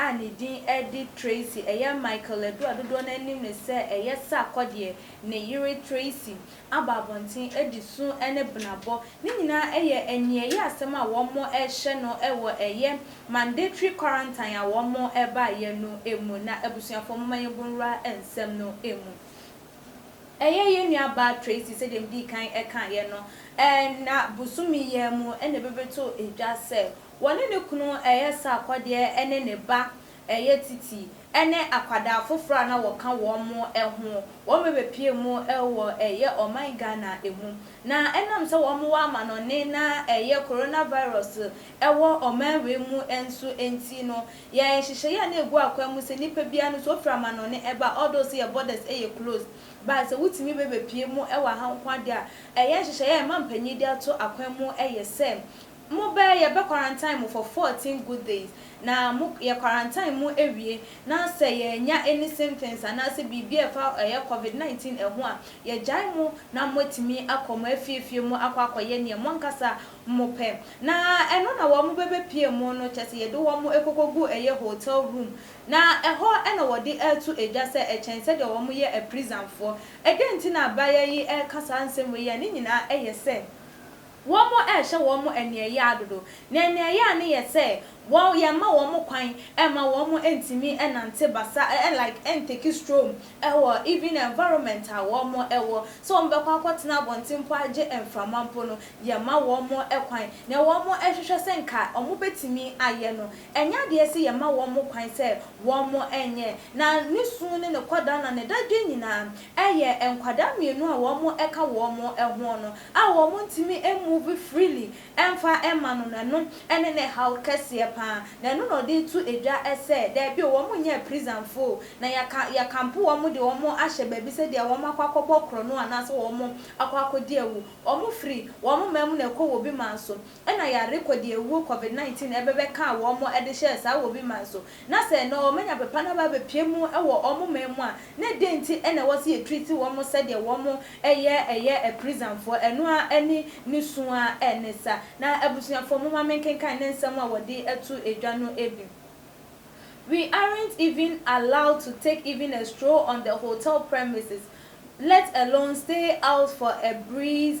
a ne din de Tracy, ɛyɛ Michael Ledoux a dodoɔ no ara nim no sɛ ɛyɛ Sarkodie, ne yere Tracy, aba abɔnten adi su ne benabɔ. Ne nyinaa yɛ aniɛyɛ asɛm a wɔrehyɛ no wɔ ɛyɛ mandatory quarantine a wɔbaeɛ no mu. Na abusuafoɔ momma yɛn bɔ nwura nsɛm no mu. Ɛyɛ yɛn nua baa Tracy sɛdeɛ medii kan kaeɛ no, na bosome yi ara mu na ɛbɛbɛtoo dwa sɛ Wɔne ne kunu resa akɔdeɛ ne ne ba ɛyɛ Titi ne akwadaa foforɔ a na wɔka wɔn ho. Wɔbɛpie mu wɔ ɛyɛ ɔman Ghana mu. Na ɛnam sɛ wɔn wɔ amanɔne na ɛyɛ Corona virus wɔ ɔman wei mu nso nti no, yɛn nhyehyɛeɛ a na ɛgu akwan mu sɛ nipa biara no sɛ ɔfiri amanɔne ɛba although sɛ yɛn borders yɛ closed but sɛ wotumi bɛbɛpie mu wɔ ha nko adeɛ a ɛyɛ nhyehyɛeɛ a ɛma mpanin de ato akwan mu yɛ sɛ Mo bɛ yɛ bɛ quarantine mo for fourteen good days na mo yɛ quarantine mo ɛwie na sɛ yɛ nya any symptoms anaa sɛ biribi a ɛfa ɛyɛ covid 19 ɛho a yɛ gyae mo na mo atumi akɔ mo afiefie mo akɔ akɔ yɛ neɛ mo ankasa mo pɛ na ɛno na wɔ mo bɛ bɛ pie mo no kyɛ sɛ yɛ de wɔ mo ɛkɔkɔ gu ɛyɛ hotel room na ɛhɔ ɛna wɔ de ɛɛto ɛgya sɛ ɛkyɛn sɛdeɛ wɔ mo yɛ ɛprizanfoɔ ɛdɛn nti na abayaa yi ɛɛka saa nsɛm wei a ne nyinaa ɛyɛ sɛ. Wɔrehyɛ wɔn aniɛyaa dodo, na aniɛyaa no yɛ sɛ wɔn, yɛmma wɔn kwan mma wɔn ntumi nnante basa ɛ, like ntake stroll wɔ even environment a wɔn wɔ, sɛ wɔn bɛkɔ akɔtena abɔnten mpo agye mframa mpo no, yɛmma wɔn kwan. Nea wɔn hwehwɛ sɛ nka wɔn bɛtumi ayɛ no, ɛnyɛ adeɛ sɛ yɛmma wɔn kwan sɛ wɔn nyɛ. Na ne su ne ne kɔda na ne dadwen nyinaa yɛ nkwadaa mmienu a wɔn ka wɔn hoɔ no, a wɔntumi move freely mfa mma no no, ɛno ne ne haw kɛseɛ pa ara. Na ɛno na ɔde reto dwa sɛ, Dabi o, wɔn nyɛɛ prisonfo o, na yɛaka, yɛakampo wɔn de wɔn ahyɛ baabi sɛ deɛ wɔn akɔ akɔbɔ korɔno anaasɛ wɔn akɔ akɔdi awu. Wɔfiri wɔn man mu na ɛkɔ wɔ obi man so. Nna yare kɔ deɛ wuo covid 19 ɛbɛbɛ kaa wɔn mo ɛde hyɛɛ saa wɔ bi man so na sɛ ɛnɛ wɔn anya pepa na ba bɛpie mu ɛwɔ wɔn mo man mu a na ɛdɛn nti ɛna ɛwɔ sɛ yɛ treat wɔn mo sɛdeɛ wɔn mo ɛyɛ ɛyɛ ɛprizanfoɔ ɛno ara ɛne ne su ara ɛne sa na abusuafoɔ momma me nkenkan ne nsɛm a wɔde ɛto ɛdwa no ɛbi We aren't even allowed to take even a stroll on the hotel premises let alone stay out for a breeze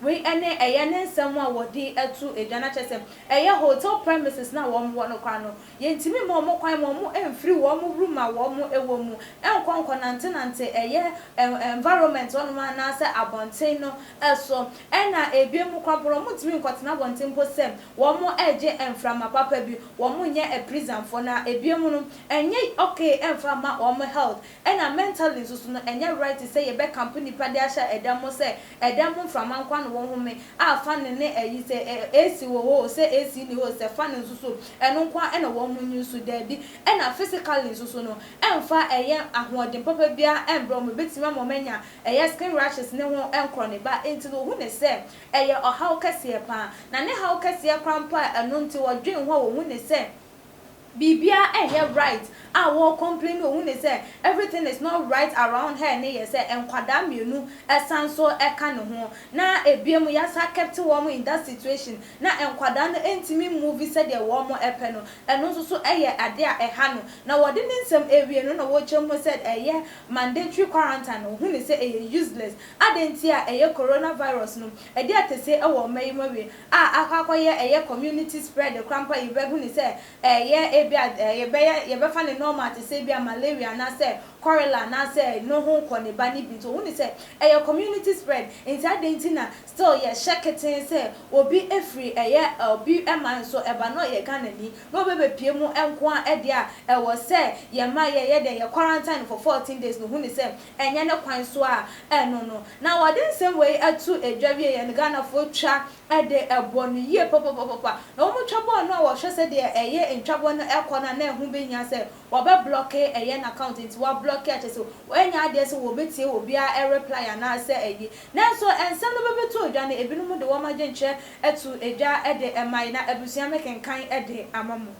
Wei ɛne ɛyɛ ne nsɛm a wɔde to dwa no akyerɛ sɛ ɛyɛ hotel premises no a wɔn wɔ no koraa no yɛntumi mma wɔn kwan ma wɔn mfiri wɔn room a wɔn wɔ mu nkɔ nkɔ nante nante ɛyɛ environment hɔ nom anaa sɛ abɔnten no so ɛna ɛbie mu koraa mpo no wɔn ntumi nkɔ tena abɔnten mpo sɛ wɔn regye mframa papa bi wɔn nyɛ prison foɔ na ɛbie mu no ɛnyɛ okay ɛmfa mma wɔn health ɛna mentally nso so no ɛnyɛ right sɛ yɛbɛ camp nnipa de ahyɛ ɛda mu sɛ Ɛdɛm ho mframa nkoa na wɔhome a fa no ne ayi sɛ AC wɔ hɔ o sɛ AC nni hɔ o sɛ fa no nso so ɛno nkoa na wɔn ho nyi so daabi ɛna physically nso so no ɛmfa ɛyɛ ahoɔden papa biara ɛmbrɛ wɔn ɛbɛtumi ama wɔn anya ɛyɛ skin rashes ne ho nkorɔ ne ba enti no wɔhu ne sɛ ɛyɛ ɔhaw kɛseɛ paa na ne haw kɛseɛ koraa mpo a ɛno nti wɔdwen ho a wɔhu ne sɛ Biribiara nyɛ right a wɔ complain wɔ mu ne sɛ everything is not right around her ne yɛ sɛ nkwadaa mmienu san so ka ne ho na ɛbiam yɛ san kept wɔn in that situation na nkwadaa no ntumi mmovi sɛdeɛ wɔn pɛ no ɛno nso so yɛ adeɛ a ɛha no na wɔde ne nsɛm ɛwie no na wɔkyɛm ho said ɛyɛ mandatory quarantine no ɔhu ne sɛ ɛyɛ useless adɛn nti a ɛyɛ coronavirus no ɛde atɛsie wɔ mma yi mu awie a akɔ akɔyɛ ɛyɛ community spread koraa mpo a yɛbɛhu no sɛ ɛyɛ ebia yɛbɛyɛ yɛbɛfa no normal te sɛ ebia malaria anaasɛ cholera anaasɛ no ho kɔ ne ba no bi nti wɔhu no sɛ ɛyɛ community spread nti adɛn nti na still yɛhyɛ ketee sɛ obi firi ɛyɛ obi man so ɛba na ɔyɛ Ghanani na ɔbɛbɛpue mu nko ara deɛ a ɛwɔ sɛ yɛma yɛyɛ dɛn yɛ quarantine no for 14 days no hu no sɛ Ɛnyɛ ne kwan so a ɛno no. Na wɔde nsɛm wei to dwa wie yɛ no, Ghanafoɔ twa de bɔ no yie papapapapa. Na wɔtwa bɔ no a wɔhwɛ sɛdeɛ ɛyɛ ntwabɔ no kɔ no a na ɛho bɛhia sɛ wɔbɛblɔke ɛyɛ no account nti wɔablɔke a kyerɛ sɛ wɔanya adeɛ sɛ wɔbɛtie obiara reply anaasɛ ayi. Nanso nsɛm no bɛbɛtoo dwa no ebinom de wɔn adwenkyerɛ too dwa de mae na abusua mekenkan de ama mo.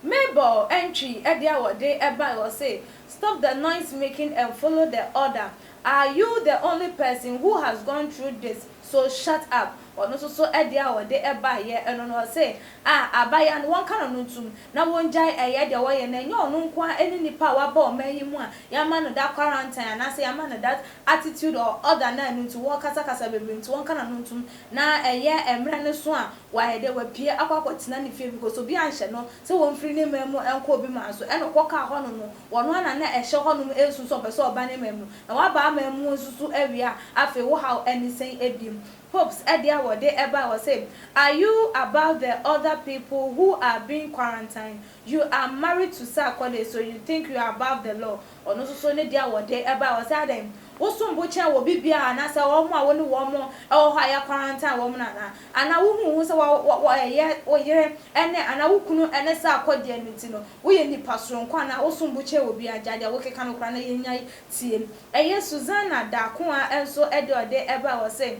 Mabel ntwii ade a wɔde bae, ɔse, Stop the noise making and follow the order, are you the only person who has gone through this, so shut up. Ɔno nso so ade a ɔde baeɛ no no ɔse, Ah, abaayewa no, wɔnka no no ntom na wɔngyae ɛyɛ deɛ wɔyɛ no, ɛnyɛ ɔno nko ara ne nipa a waba ɔman yi mu a yɛama no that quarantine anaasɛ yɛama no that attitude or order no a ɛno nti wɔrekasakasa bebree nti wɔnka no no ntom. na ɛyɛ mmerɛ no so a wayɛ dɛ wapue akɔ akɔtena ne fie because obi anhyɛ no sɛ wɔmfiri ne man mu nkɔ obi man so ɛna ɔkɔ kaa hɔnom no wɔno ara na na ɛhyɛ hɔnom nso sɛ ɔpɛ sɛ ɔba ne man mu na waba aman mu nso so awie a afei wo haw ɛne sɛn ɛbim Hopes ɛdeɛ a wɔde ɛbae wɔ se are you about the other people who are being quarantined you are married to Sarkodie so you think you are above the law Ɔno nso so ne dea wɔde bae, wɔ sɛ, Adɛn, wosom bo kyɛn obi biara, anaa sɛ wɔn a wo ne wɔn wɔ hɔ a yɛakwarantan wɔn no anaa? Anaa wohu wo ho sɛ wɔyɛ wo yere ne, anaa wo kunu ne saa akɔdeɛ no nti no, woyɛ nipa soronko anaa wosom bo kyɛn obiara? Gyae deɛ wokeka no koraa na yɛnnya tie. Ɛyɛ Susana Darkoa nso deɛ ɔde bae, wɔ sɛ,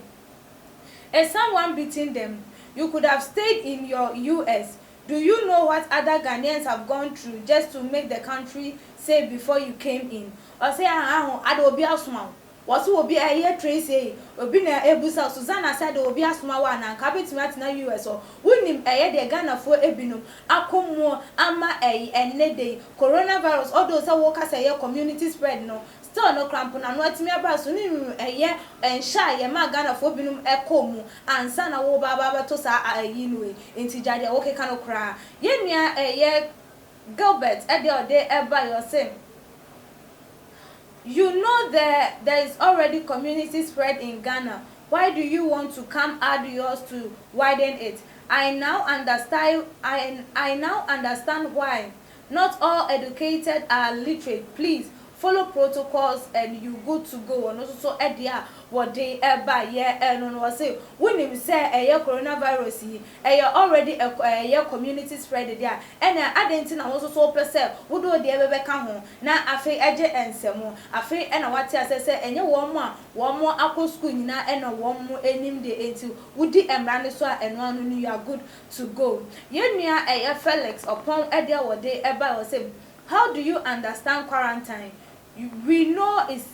Is someone beating them? You could have stayed in your US. Do you know what other Ghanaians have gone through just to make the country safe before you came in? Ɔse aah aah ho ade obi asoma wo? Wɔse obi ɛyɛ train sei obi na ɛbusa wo Susanna sɛ ade obi asoma wo anaa nka wobɛtumi atena US hɔ? Wonim ɛyɛ deɛ Ghanafoɔ ɛbinom akɔ muo ama ɛyi ɛnnɛ da yi Coronavirus although sɛ woka sɛ ɛyɛ community spread no Still no kora mponano atumi aba so ne nwunu ɛyɛ nhyɛ a yɛmaa Ghanafoɔ binom kɔɔ mu ansa na wo ba ba bɛto saa a ayi no wei nti gyae deɛ wo keka no koraa. Yɛn nua ɛyɛ Gilbert deɛ ɔde baeɛ ɔse you know there there is already community spread in Ghana why do you want to come add yours to widen it I now understai I I now understand why Not all educated are literate please follow protocols and you good to go ɔno nso so deɛ a wɔde ba yɛ no no wɔse wonim sɛ ɛyɛ corona virus yi ɛyɛ already ɛkɔ ɛyɛ community spread deɛ a ɛna adɛn nti na wo nso so wopɛ sɛ wode wo deɛ bɛbɛka ho na afei ɛgye nsɛm afei ɛna wate aseɛ sɛ ɛnyɛ wɔn a wɔn akɔ school nyinaa ɛna wɔn nim deɛ nti wodi mmara no so a ɛno ano no you are good to go yɛn nua ɛyɛ Felix ɔpɔn ɛdeɛ wɔde ɛbae ɔse how do you understand quarantine we know is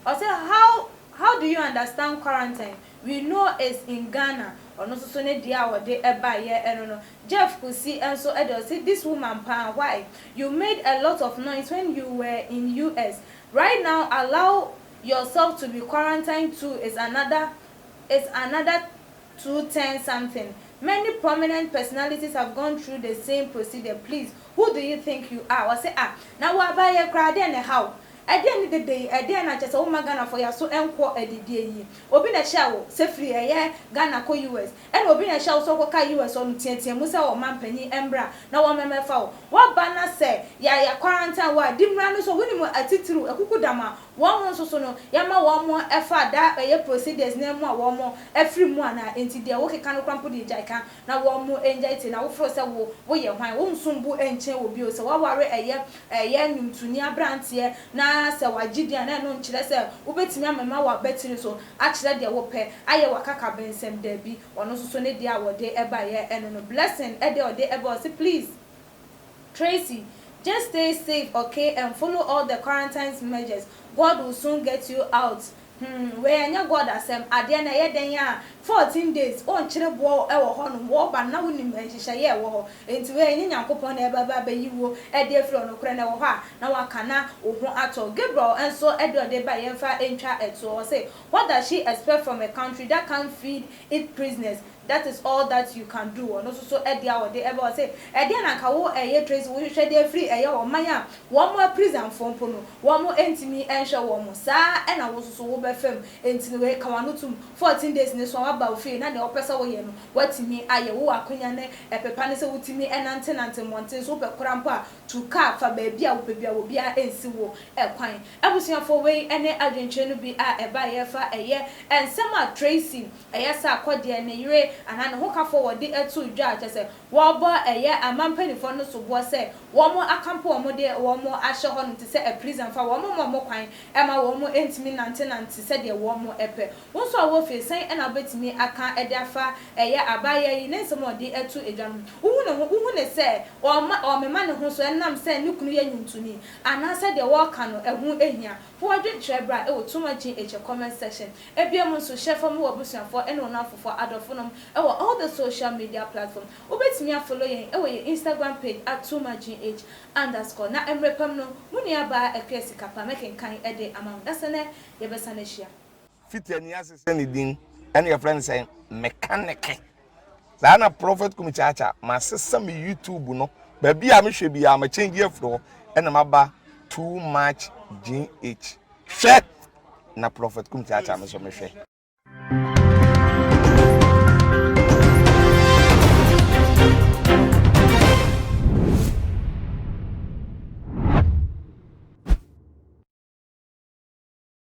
ɔse how how do you understand quarantine we know is in Ghana ɔno nso so ne deɛ a ɔde ɛbaeɛ ɛno no Jeff Kusi nso ɛdeɛ ɔse this woman paa why you made a lot of noise when you were in US right now allow yourself to be quarantine too is another is another to ten something many prominent personalities have gone through the same procedure please who do you think you are ɔse ah na wo aba yɛ koraa dɛn na ɛhaw ɛdeɛn ne dede yi ɛdeɛn na kyɛsɛ woma Ghanafoɔ yaso nkɔ adidie yi obi na ɛhyɛɛ wo sɛ firi ɛyɛ Ghana kɔ US ɛna obi na ɛhyɛɛ wo sɛ wokɔ ka US hɔ no teatea mu sɛ ɔman panyin ɛmbra na wɔn mɛmɛfa wo waba na sɛ yɛayɛ quarantine wo a di mmra no so wonim atitiriw akukudam a Wɔn ho nso so no, yɛma wɔn fa da a ɛyɛ procedures no ara mu a wɔn afiri mu anaa, enti deɛ wo keka no koraa mpo deɛ gyae ka na wɔn ngyae tie, na wo frɛ sɛ wo, wo yɛ hwan? Wo nsom bo nkyɛn wɔ bio, sɛ w'aware ɛyɛ, ɛyɛ nwomtoni abranteɛ na sɛ w'agye din a na ɛno nkyerɛ sɛ wo bɛtumi amema w'abatiri so akyerɛ deɛ wo pɛ, ayɛ w'akakabensɛm, daabi, ɔno nso so ne deɛ a ɔde baeɛ no no, Blessing, ɛdeɛ a ɔde baeɛ, ɔse please. Tracy, Just stay safe okay and follow all the quarantines measures, God will soon get you out Humm wei ɛnyɛ God asɛm, adeɛ no ɛyɛ dɛn a 14 days wonkyere boɔ wɔ hɔ nom, wɔba no na wonim nhyehyɛeɛ a ɛwɔ hɔ nti wei ɛnyɛ Nyankopɔn na ɛreba abɛyi wo ɛde afiri hɔ nokorɛ no ɛwɔ hɔ a na waka na wo ho atɔ Gabriel nso ɛdeɛ ɔde baeɛ yɛmfa ntwa toɔ ɔse what does she expect from a country that can't feed it prisoners That is all that you can do ɔno nso so ɛdeɛ a ɔde ɛbɛ ɔse ɛdeɛn na nka wo ɛyɛ Tracy wohwehwɛ de afiri ɛyɛ ɔman a wɔn aprisanfoɔ mpo no wɔn ɛntumi ɛnhwɛ wɔn saa ɛna wo nso so wo bɛfa mu ɛnti no wei ka wano tum fourteen days no so a waba wo fie na deɛ wopɛ sɛ woyɛ no watumi ayɛ wowɔ akonya ne ɛpepa ne sɛ wotumi ɛnante nante mmɔnten so wopɛ kora mpo a tu car fa baabi a wopɛ biara obiara ɛnsi wo ɛkwan abusuafoɔ wei ɛne adwenkyerɛ no bi a ɛbaeɛ ɛfa ɛyɛ ɛnsɛm a Tracy Ɛyɛ saa a, kɔ deɛ ne yere anaa ne hokafoɔ wɔ de too dwa a, kyerɛ sɛ, wɔrebɔ ɛyɛ aman mpanimfoɔ no soboɔ sɛ wɔakampo wɔn de wɔn ahyɛ hɔnom te sɛ aprisan fa, wɔmma wɔn kwan mma wɔntumi nnantenante sɛdeɛ wɔpɛ. Wo nso a wowɔ fie, sɛn na wobɛtumi aka de afa ɛyɛ abaayewa yi ne nsɛm a ɔde to dwa no ho? Wohu ne ho? Wohu no sɛ ɔremema ne ho so ɛnam sɛ ne kunu yɛ nnwontoni anaa sɛdeɛ wɔreka no, ɛho hia? Ho adwenkyerɛ bra wɔ Too Much GH comment section. Ebia mu nso hyɛ fam wɔ abusuafoɔ ne wo nnamfofoɔ adɔfo nom wɔ all the social media platform. Wobɛtumi a follow yɛn wɔ yɛn Instagram page at Too Much GH underscore na mmerɛ pam no mo nua baa Akua Sikapa mɛkenkan de ama wo na sɛ nɛ yɛbɛsan ahyia. Fitani ase sɛn ne din ɛne yɛfrɛ no sɛn? Mɛkanɛke. Saa ara na Prophet Kumi Kyakya, masesa me YouTube no. Baabi a mehwɛ biara, ma change afiri hɔ. Ɛna maba too much GH. Hwɛ! Na Prophet Kumi Kyakya me so mehwɛ.